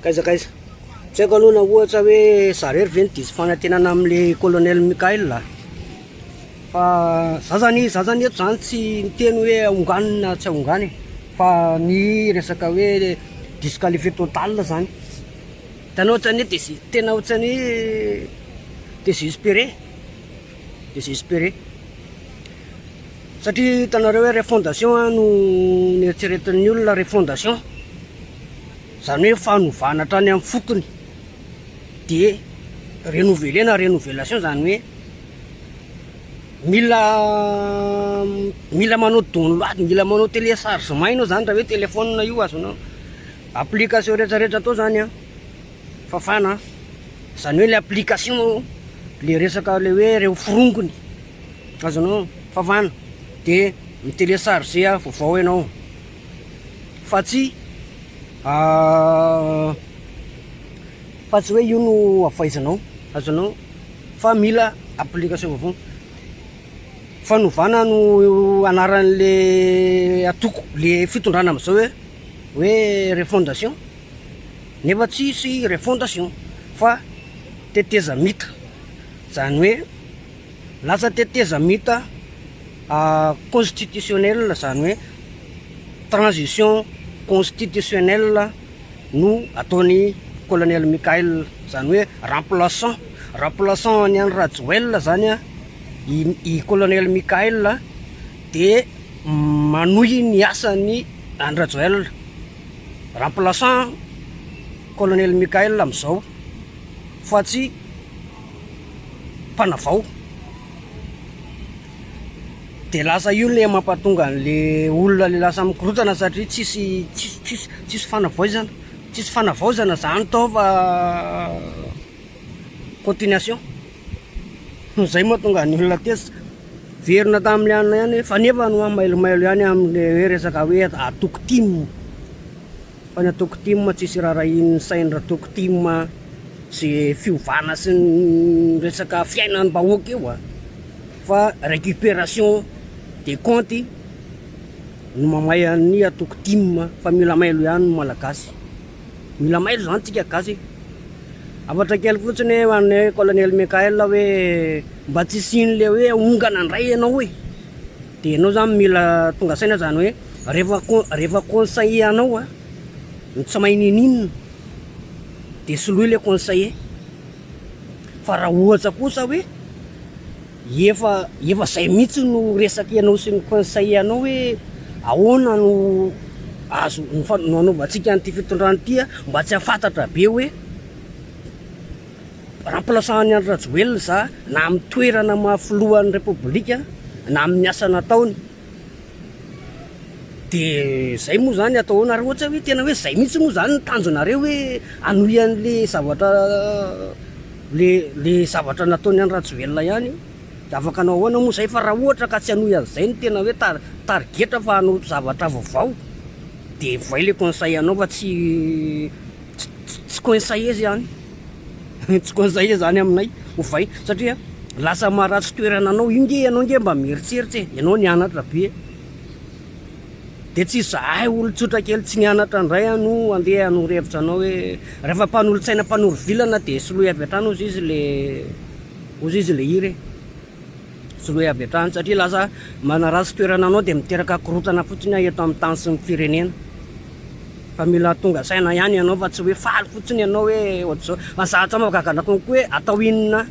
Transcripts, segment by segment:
Kaiza kaiza. Tsy haiko aloha na ohatra hoe za rery ve ny diso fanantenana amin'le colonel Michael a. Fa za zany za zany eto zany tsy miteny hoe ahongano na tsy ahongano e. Fa ny resaka hoe disqualifié total zany. Hitanao ohatran'ny hoe tena ohatran'ny hoe désespéré. Désespéré. Satria hitanareo hoe refondation an no nieritreretin'ny olona refondation. Izany hoe fanovana hatrany amin'ny fotony. Dia renouveler na renovelation izany hoe mila mila manao download, mila manao téléchargement ianao izany raha hoe téléphone io azonao. Application rehetra rehetra atao izany an. Fafana an! Zany hoe le application moa le resaka le hoe reo forongony azonao fafana de mi telecharger vaovao ianao fa tsy fa tsy hoe io no avaizanao azonao fa mila application vaovao fanovana no anaran'le atoko le fitondrana amizao hoe hoe refondation Nefa tsisy refondation fa tetezamita, zany hoe lasa tetezamita constitutionnel zany hoe transition constitutionnel no ataony colonel Mickaël zany hoe remplaçant remplaçant an'i Andry Rajoël zany i colonel Mickaël de manohy ny asany Andry Rajoël. Remplaçant Colonel Mickaël amin'izao fa tsy mpanavao. Dia lasa io le mampatonga an'le olona le lasa mikorontana satria tsisy tsisy tsisy tsisy fanavaozana, tsisy fanavaozana zany tao fa Continuation. Izay moa tonga ny olona tezitra. Verina tamin'ny lianina ihany fa nefa no mailomailo ihany amin'ny hoe resaka hoe atoko tim. Fa ny atoko tim tsisy rarahian'ny sain'ny ratoko tim sy fiovana sy ny resaka fiainan'ny bahoaka io ah. Fa récupération des comptes no mamay an'ny atoko tim fa mila mailo ihany ny malagasy. Mila mailo zany tsika gasy e. Hafatra kely fotsiny ho an'ny hoe colonel Mickaël hoe mba tsy hisian'ny le hoe hongana ndray ianao e. Dia ianao zany mila tonga saina zany hoe rehefa con- rehefa conseiller anao a ny tsy mahay ninin dia soloy le conseiller fa raha ohatra kosa hoe Efa efa zay mihitsy no resaka ianao sy ny conseil anao hoe ahoana no azo no anaovantsika an'ity fitondrana ity a, mba tsy hafantatra be hoe remplaçant an'i Andry Rajoelina za na amin'ny toerana maha filohan'ny Repoblika na amin'ny asa nataony. De zay moa zany atao ahoana ary ohatra hoe tena hoe zay mihitsy moa zany ny tanjonareo hoe hanohy anle zavatra le le zavatra nataony any Rajoelina ihany de afaka hanao ahoana moa zay fa raha ohatra ka tsy hanohy anzay no tena hoe tar- tarigetra fa hanao zavatra vaovao de voay le conseil anao fa tsy Tsy conseiller zany tsy conseiller zany aminay ovay satria lasa maharatsy toerana anao io nge ianao nge mba mieritseritsy e ianao nianatra be e de tsy izahay olon-tsotra kely tsy nianatra indray ano andeha hanoro hevitra anao hoe rehefa mpanolo-tsaina mpanoro vilana de soloy avy hatrany hozy izy le hozy izy le hira e Tsy hoe avy hatrany satria lasa manaratsy toerana anao dia miteraka korontana fotsiny eto amin'ny tany sy ny firenena. Fa mila tonga saina ihany ianao fa tsy hoe faly fotsiny ianao hoe ohatr'izao. Fa za hatrany mahagaga konko hoe atao inona,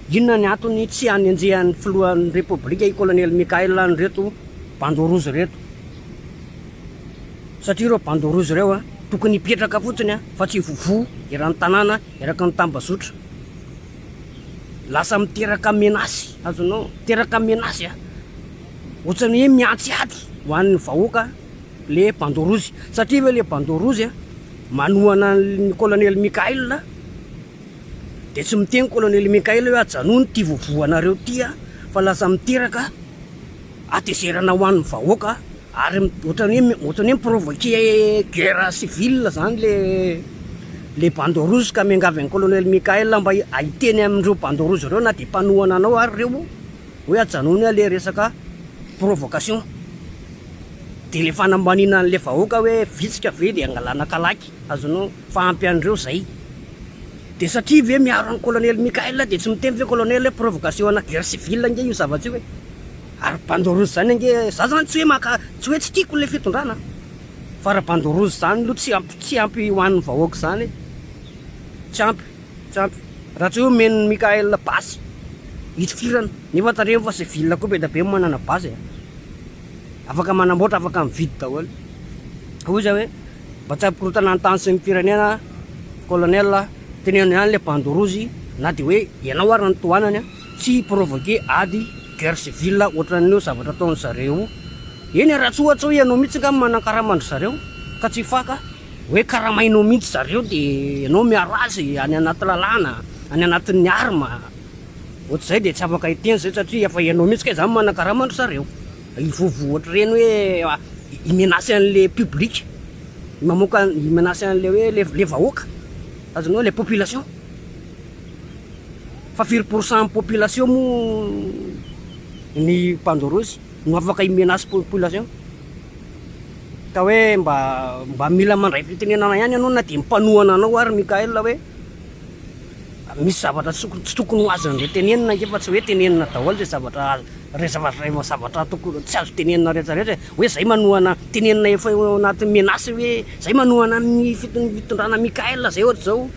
inona ny antony tsy hanenjehan'ny filohan'ny repoblika i Kolonely Mickaël an'ireto bandeau rouge ireto. Satria ireo bandeau rouge ireo tokony hipetraka fotsiny fa tsy hivovo eran'ny tanàna eraky ny tambazotra. Lasa miteraka menace azonao miteraka menace a ohatrany hoe miantsy ady ho an'ny vahoaka le bandeau rouge satria ve le bandeau rouge a manohana ny colonel Mickaël de tsy miteny colonel Mickaël hoe ajanony ity vovoanareo ity a fa lasa miteraka hatezerana ho an'ny vahoaka Ary ohatran'ny hoe ohatran'ny hoe mi-provoquer guerre civile zany le le bandeau rouge ka miangavy an'i colonel Mickaël mba hiteny amin'ireo bandeau rouge ireo na dia mpanohana anao ary ireo hoe ajanony le resaka provocation de le fanambaniana an'le vahoaka hoe vitsika ve de angalana kalaky azonao fa ampy an'ireo zay de satria ve miaro an'i colonel Mickaël de tsy miteny ve colonel hoe provocation ana guerre civile ange io zavatra io e. Ary bandeau rouge zany ange, za zany tsy hoe maka, tsy hoe tsy tiako ilay fitondrana an, fa raha bandeau rouge zany lo tsy ampy, tsy ampy ho an'ny vahoaka zany e, tsy ampy, tsy ampy, raha tsy hoe omen'i Mickaël basy hitifirana, nefa tandremo fa civil koa be dia be manana basy e, afaka manamboatra, afaka mividy daholo, hoy izy hoe mba tsy hampikorontana ny tany sy ny firenena colonel a, teneno ihany ilay bandeau rouge na dia hoe ianao ary no tohanany an. Tsy hi provoquer ady, guerre civile, ohatran'ny hoe zavatra ataon-dry zareo eny raha tsy ohatra hoe ianao mihitsy angamba manankarama an-dry zareo ka tsy faka hoe karamainao mihitsy zareo dia ianao miaro azy any anaty lalàna, any anatin'ny arme, ohatr'izay dia tsy afaka hiteny izay satria efa ianao mihitsy kay izany manankarama an-dry zareo. Hivovo ohatr'ireny hoe hi-menacer an'ilay public, mamoaka hi-menacer an'ilay hoe ilay vahoaka, azonao, ilay population. Fa firy pourcent population moa ny pandorozy no afaka hi menace population? Ka hoe mba mba mila mandray fitenenana ihany ianao na dia mpanohana anao ary Mickaël hoe misy zavatra tsy tokony ho azony re tenenina ange fa tsy hoe tenenina daholo izay zavatra rehefa zavatra tokony tsy azo tenenina rehetra rehetra e hoe izay manohana tenenina efa eo anaty menace hoe izay manohana ny fitondrana Mickaël izay ohatr'izao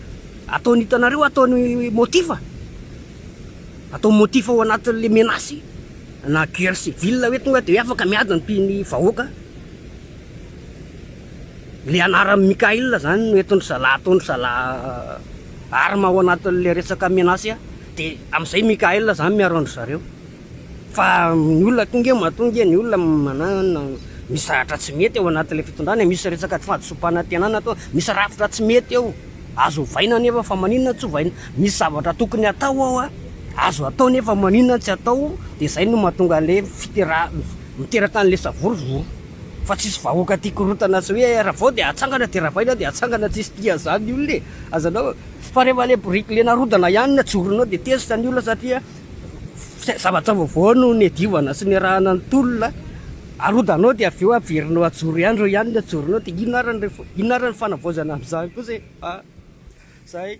Ataony hitanareo ataony motif a! Atao motif ao anatin'le menace na guerre civile hoe tonga de hoe afaka miady ny mpi ny vahoaka le anaran'i Mickaël zany no entindry zala ataondry zala arme ao anatin'le resaka menace de amizay Mickaël zany miaro andry zareo. Fa ny olona tonga eo matoa nge ny olona misy zavatra tsy mety ao anatin'ilay fitondrana e, misy resaka tsy fahadisoam-panantenana toa misy rafitra tsy mety eo, azo ovaina anefa fa maninona tsy ovaina, misy zavatra tokony atao ao an, azo atao nefa maninona tsy atao, dia izay no mahatonga an'ilay fiterahana, miteraka an'ilay savorovoro, fa tsisy vahoaka tia korotana sy hoe ravao dia atsangana dia ravaina dia atsangana, tsisy tia an'izany ny olona e, azanao, fa rehefa ilay boriky ilay narodana ihany no tsorinao dia tezitra ny olona satria. zavatra vaovao no niadivana sy niarahana ny tolona, arodanao dia avy eo averinao ajoro ihany, ireo ihany no ajoronao dia inona ary ny refa, inona ary ny fanavaozana amin'izany kosa e? a, zay.